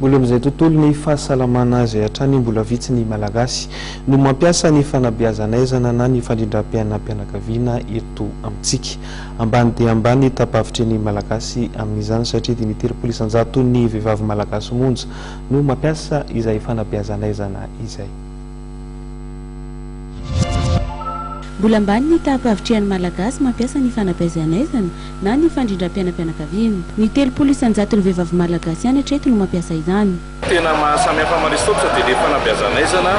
Mbola amin'izay tontolon'ny fahasalamana izay hatrany mbola vitsy ny Malagasy no mampiasa ny fanabeazan'aizana na ny fandrindram-piainam-pianakaviana eto amintsika. Ambany dia ambany ny tapavitry ny Malagasy amin'izany satria dimy telopolo isan-jaton'ny vehivavy Malagasy monja no mampiasa izay fanabeazan'aizana izay. Mbola ambany ny taham-pahavitrihan'ny Malagasy mampiasa ny fanabeazanaizana na ny fandrindram-piainam-pianakaviana. Ny telopolo isan-jaton'ny vehivavy Malagasy ihany hatreto no mampiasa izany. Tena mahasamihafa amin'i Aristotle dia ilay fanabeazanaizana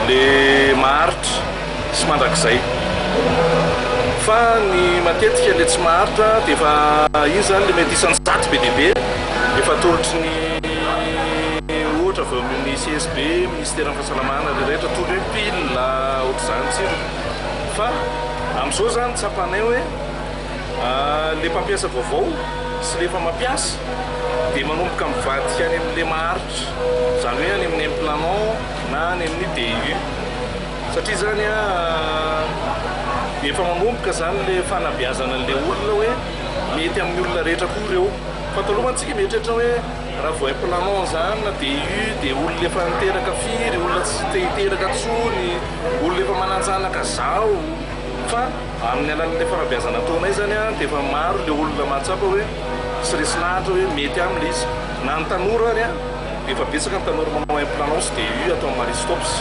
ilay maharitra sy mandrakizay. Fa ny matetika ilay tsy maharitra dia efa iny izany ilay mety isan-jato be dia be efa atolotry ny ohatra avy ao amin'ny CSB. Tsy tena fahasalama anareo rehetra tondro hoe pile ohatr'izany tsirony fa amin'izao zany tsapanay hoe le mpampiasa vaovao sy le efa mampiasa dia manomboka mivadika any amin'ny le maharitra izany hoe any amin'ny implanant na any amin'ny DU satria zany efa manomboka zany le fanabeazana an'le olona hoe mety amin'ny olona rehetra koa ireo fa taloha mantsika mieritreritra hoe Raha vao hay planao anzany DU dia olona efa niteraka firy, olona tsy te hiteraka tsony, olona efa mananjanaka zao fa amin'ny alalan'ilay fanabeazana ataonay zany dia efa maro ilay olona mahatsapa hoe sy resin'ahitra hoe mety aminy ilay izy. Na ny tanora ary an, dia efa betsaka ny tanora manao hay planao sy DU ato amin'ny Marie Stopes.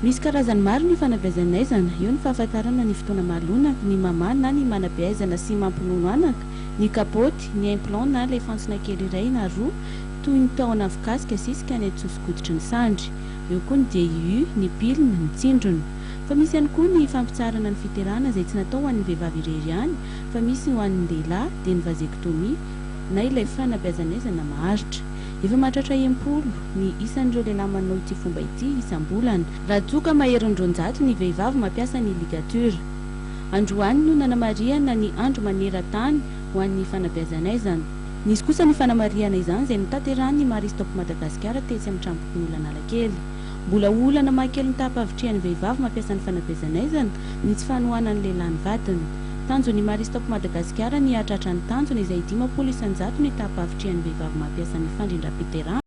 Misy karazany maro ny fanabeazan'aizana, eo ny fahafantarana ny fotoana mahalona, ny mamaha na ny manabe aizana sy mampinono anaka, ny kapoty, ny implant na ilay fantsona kely iray na roa toy ny tahon afokasika zisika any an-tsoso-koditry ny sandry. Eo koa ny DIU, ny pilina, ny tsindrona. Fa misy ihany koa ny fampitsaharana ny fiterahana izay tsy natao ho an'ny vehivavy irery ihany fa misy ho an'ny lehilahy dia ny vasectomie na ilay fanabeazan'aizana maharitra. Efa mahatratra em-polo ny isan'ireo lehilahy manao ity fomba ity isam-bolana. Raha toa ka maherin'ny roanjato ny vehivavy mampiasa ny ligature. Androany no nanamarihana ny andro maneran-tany ho an'ny fanabeazan'aizana. Nisy kosa ny fanamarihana izany izay notanterahin'ny Marie Stop Madagasikara tetsy amin'ny Tranompokonolona Analakely. Mbola ho olana maha kely ny taham-pahavitrihan'ny vehivavy mampiasa ny fanabeazan'aizana ny tsy fanohanan'ny lehilahy ny vadiny. Tanjon'ny Marie Stop Madagasikara ny hahatratra ny tanjona izay dimampolo isan-jato ny taham-pahavitrihan'ny vehivavy mampiasa ny fandrindram-piterahana.